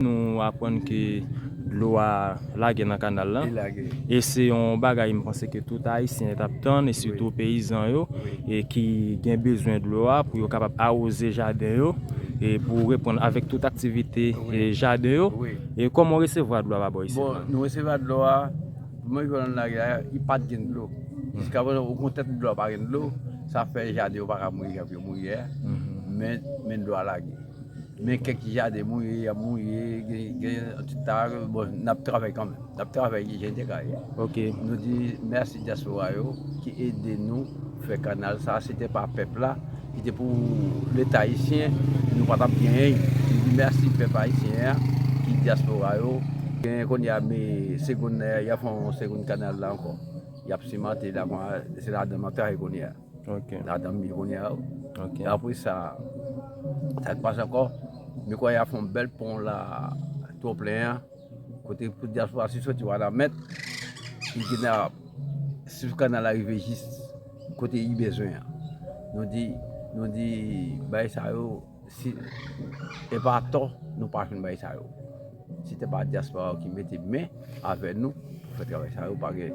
Nou aprann ke dlo a lage nan kanal la, e se yon bagay m panse ke tout Ayisyen t ap tann, e sitou peyizan yo ki gen bezwen dlo a pou yo kapab awoze jaden yo, e pou reponn avèk tout aktivite jaden yo. E kòman w resevwa dlo a pa bò isit la? Bon, nou resevwa dlo a, premye jou nou lage a, li pa t gen dlo. Jiska prezan, okontrè tout dlo a pa gen dlo, sa fè jaden yo pa ka mouri jan pou yo mouri yè a, men dlo a lage. Men kèk ti jaden mouye, y ap mouye, gen yon ti ta, bon, n ap travay kanmenm. N ap travay ki jen te ka ye. Ok. Nou di mèsi dyaspora yo ki ede nou fè kanal sa a. Si te pa pèp la, si te pou Leta ayisyen, nou pa t ap gen anyen. Nou di mèsi pèp ayisyen an ki dyaspora yo. Gen kounye a me segonn, y ap fè yon segonn kanal la ankò. Y ap simante la, se ladan m ap travay kounye a. Nap tann li kounye a wi. Apre sa, sa ki pase ankò, mwen kwè y ap fè yon bèl pon la twonplen an, kote pou dyaspora si soti Wanament, li gen nan sou kanal la rive jis kote li bezwen an. Nou di, nou di bagay sa yo, si e pa atò nou pa fè bagay sa yo. Si te pa dyaspora ki mete men avè nou pou fè travay sa yo pa gen.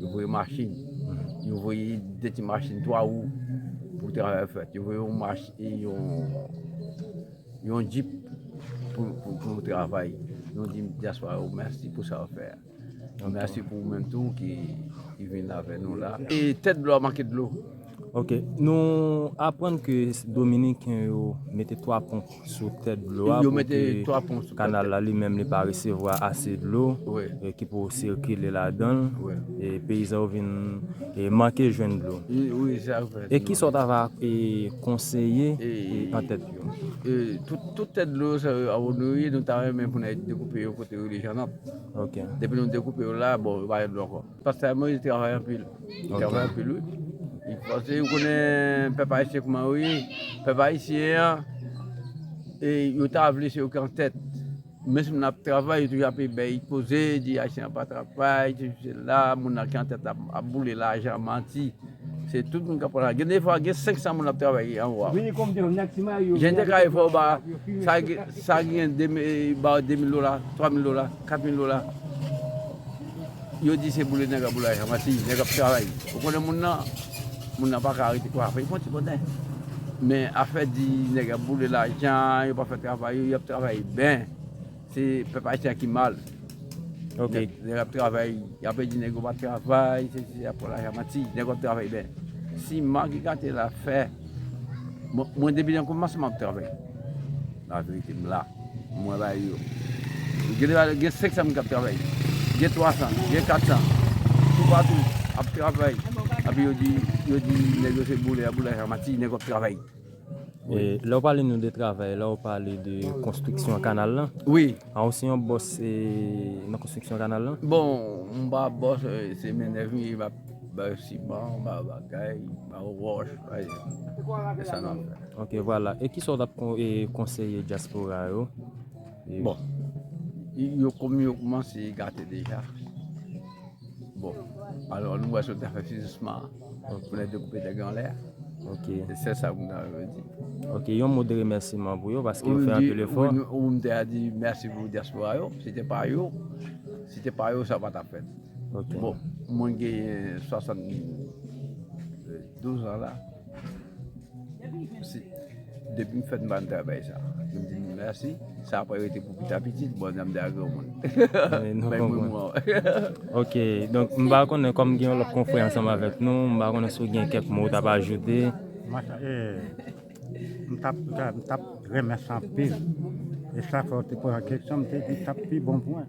Yo voye machin, yo voye de ti machin 3 wou pou travay ap fèt. Yo voye yon machin, yon jip pou travay. Nou di dyaspora yo mèsi pou sa yo fè a. Mèsi pou ou menm tou ki vin avè nou la. E tèt dlo a manke dlo. Ok, nou aprann ke dominiken yo mete 3 pon sou tèt dlo a pou ke kanal la li menm li pa resevwa ase dlo ki pou sikile ladanl e peyizan yo vin manke jwenn dlo. E kisa ou ta va konseye an tèt yo? Tout tèt dlo sa yo abone wi, nou ta renmen pou nou dekoupe yo kote rele Jean Nop. Depi nou dekoupe yo la, bon yo pa gen dlo ankò. Pastè Moïse travay anpil, li travay anpil wi, li pase ou konnen pèp ayisyen kouman yo ye, pèp ayisyen an e yo ta vle se yo ki an tèt, menm si moun ap travay yo toujou ape bay koze, di ayisyen an pa travay, sesi sela, moun nan ki an tèt la ap boule lajan, manti. Se tout moun kap pran la. Gen defwa gen 500 moun ap travay anwo a. Jen te kare fè w ba sa ki gen 2 mil ba w 2 mil dola, 3 mil dola, 4 mil dola. Yo di se boule nèg a boule ajan. Mati nèg ap travay. Ou konnen moun nan, moun nan pa ka rete kwa fè. Li fon ti konnen. Men afè di nèg ap boule lajan, yo pa fè travay yo, yo ap travay ben. Se pèp ayisyen an ki mal. Ok. Nèg ap travay, y ape di nèg yo pa travay, se si se la, pou la jan manti. Nèg yo ap travay bè. Si Marc gate la fè, mwen depi nan koumanse man ap travay. La verite m la. Mwen ba yo. Gen la gen 500 moun k ap travay. Gen 300, gen 400. Tou pa tou, ap travay. Ape yo di, yo di nèg yo se boule, boule la jan manti. Nèg yo ap travay. Lè ou pale nou de travay la ou pale de konstriksyon kanal lan? Wi. A ou se yon bòs nan konstriksyon kanal lan? Bon, m pa bòs, se mennèv m ye, m ap bay siman, m ap bay bagay, m ap bay wòch, se sa n ap fè. Ok, vwala. E kisa ou ta konseye dyaspora yo? Bon, yo kòm yo koumanse gate deja, bon, alò nou wè sa yo ta fè finansman an. Pou lè dekoupe nèg yo anlè. Ok. Se sèl sa pou m ta rive di. Ok, yon mo de remèsiman pou yo paske yo fè anpil efò. Ou m te a di mèsi pou dyaspora yo. Si te pa yo, si te pa yo sa pa ta fèt. Ok. Bon, mwen genyen 72 an la. Depim fèt mpa renmn travay sa. Yo di nou merci. Sa pa rete pou pita pitit bon jan mte a granmoun. Bay mwen mwa wè. Ok donk mpa konnen kòm gen yon lòt konfrè ansanm avèk nou mpa konnen si w gen kèk mo ou tap ajoute. Mtap renmen sa anpil. E sa fè w te poze kesyon mte di tap pi bon pou mwen.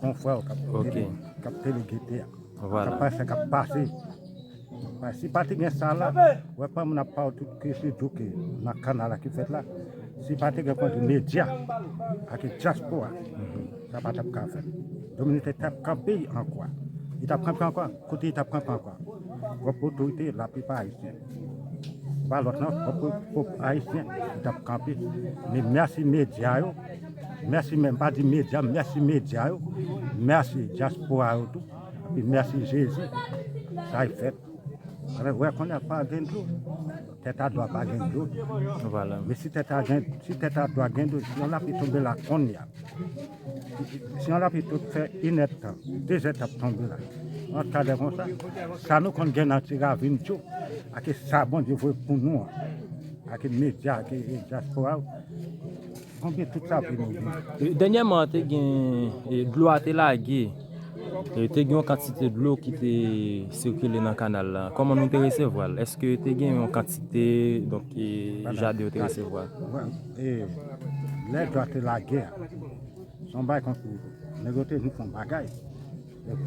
Konfrè ou kap ede ou, kap tele gete a. Kap pa se kap pase. Si pati gen sa la, wè pa moun ap pa ou tout ke se djouke nan kanal la ki fèt la. Si pati gen konti medya ak e djaspo a, sa pa tap ka fèt. Dominite tap kanpe an kwa. E tap kanpe an kwa, kote e tap kanpe an kwa. Wap otorite la pi pa a iti. Se pa lòt nan, pwòp Ayisyen ki t ap kanpe. Men mèsi medya yo, mèsi men, m pa di medya, mèsi medya yo, mèsi dyaspora yo tou, epi mèsi Jezi, sa y fèt. Alè, wè konn ap pa gen dlo, tèt a dwa pa gen dlo. Men si tèt a dwa gen dlo, si yon lapli tonbe la konn ya, Siyon lapi tout fè inèd tan, dezè t ap tonbe la. Ant kadè konsa, sa nou konn gen nan ti ravin tjou, ak e sa Bondye voye pou nou an, ak e medya, ak e dyaspora yo, konbyen tout sa vle nou di? Dènyèman, te gen, dlo a te lage, te gen yon kantite dlo ki te sikile nan kanal la. Kòman nou te resevwa l? Èske te gen yon kantite, donk, jaden yo te resevwa? E lè dwa te lage a, se yon bagay tankou nèg yo te vin fè yon bagay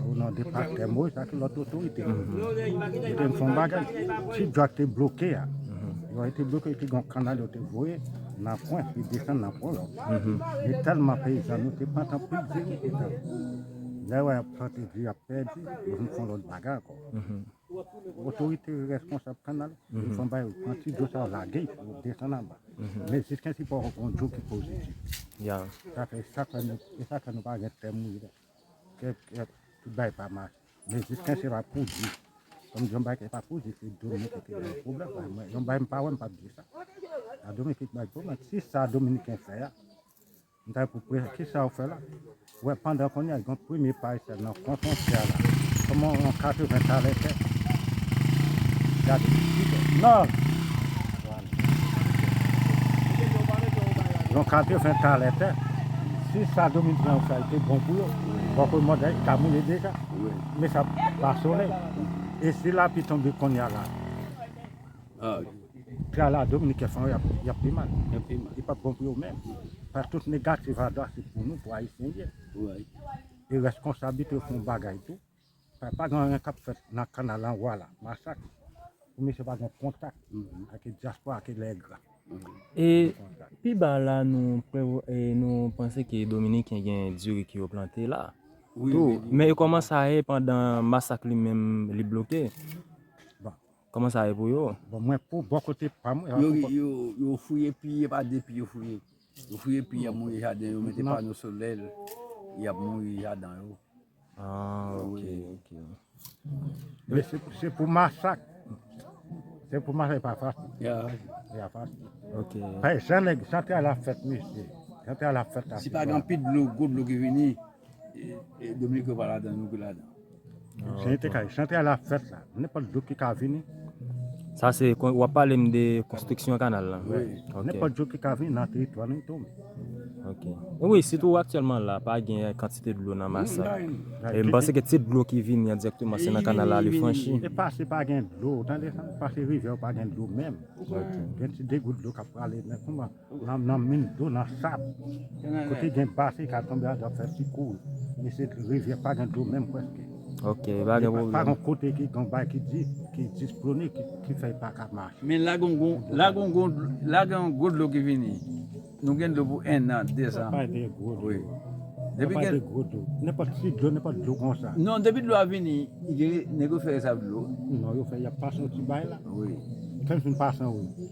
o non de Pastè Moyiz ak lòt otorite. Yo te vin fè yon bagay. Ti dwa te bloke a, dwa yo te bloke te gen yon kanal yo te voye nan pwen ki desann nan pwen yo. Men tèlman peyizan nou te pantan pou di ki te tankou lè yo wè y ap plante di y ap pèdi, yo vin fè yon lòt bagay ankò. Otorite yo responsab kanal yo fon bay yo pran ti dlo sa yo lage yo desann anba men jiskensy pa w gon dlo ki pozitif sa fè sa fè nou e sa fè nou pa gen tè mouyi la kè kè tout bagay pa mache men jiskensy e pa poudi kòm di yon bagay ki pa poudi se dominiken ki bay pwoblèm la mwen yon bagay m pa wè m pap di sa a dominiken ki bay pwoblèm si sa dominiken fè a M ta epou pre kisa ou fè la. Wè pandan kounye a gen premye paysè nan kon fontyè a la. Koman yon 80 talè fè. Gade isit o. Nòv! Yon 80 talè tè. Si sa Dominikèn yo fè a te bon pou yo, fòk yo mòd yo ta moule deja. Men sa pa solèy. E si lapli tonbe kounye a la. Gala dominiken sa yo yap pi mal. Li pap bon pou yo menm. Pask tout negatif a dwa se pou nou pou ayisyen ye. E reskonsablite yo fè yon bagay tou. Pask pa gen anyen kap fèt nan kanal anwa la. Masak. Pou misye pa gen kontak ak dyaspora ak lègra. E pi ba la nou panse ke dominiken gen diri ke yo plante la. Tou. Men yo komanse aye pandan masak li menm li bloke. Koman sa ye pou yo? Bon mwen pou bò kote pam. Yo fouye pi e pa de pi yo fouye. Yo fouye pi yap mouye jaden yo mete pano solè yap mouye jaden yo. Ah ok ok. Men se pou masak. Se pou masak e pa fasil. E pa fasil. Ok. Jan nèg jan travay la fèt mesye. Jan travay la fèt la. Si pa gen anpil dlo gwo dlo ki vini. Dominiken pa ladan nou ki ladan. Senyè te kay, chante a la fèt la, nenpòt jou ki ka vini. Sa se, w ap pale m de konstriksyon kanal la. Wi, nenpòt jou ki ka vini nan teritwa nou tou. Ok. Wi, sitou aktyèlman la, pa gen kantite dlo nan masak. E m panse ke ti dlo ki vini an dirèkteman se nan kanal la li franchi. E pa se pa gen dlo, tande sa, pa se rivyè ou pa gen dlo menm. Gen ti degout dlo k ap prale, men kouman. Lanm nan minm dlo nan sab. Kote gen basen ka tonbe a dwa fè ti kou men se rivyè pa gen dlo menm preske. Ok pa gen pwoblèm. Pa gen kote ki gen bay ki di ki displone ki fè pa ka mache. Men la gen yon la gen yon la gen yon gwo dlo ki vini. Nou gen dlo pou 1 an 2 an. Pale de gwo dlo. Wi. Depi gen gwo dlo. Nenpòt ti dlo nenpòt dlo konsa. Non depi dlo a vini nèg yo fè rès avk dlo. Non yo fè yap pase yon ti bay la. Wi. Kèm fin pase wi.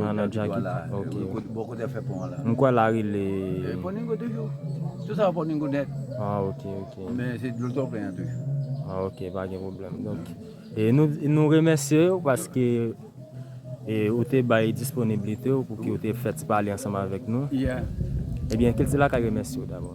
Nan nan djaki ok. M kwè la rele. Ah ok ok. Ah ok pa gen pwoblèm. Donk e nou nou remèsye ou paske e ou te bay disponiblite ou pou ki ou te fè ti pale ansanm avèk nou. Ebyen Kilti Lakay remèsye ou dabò.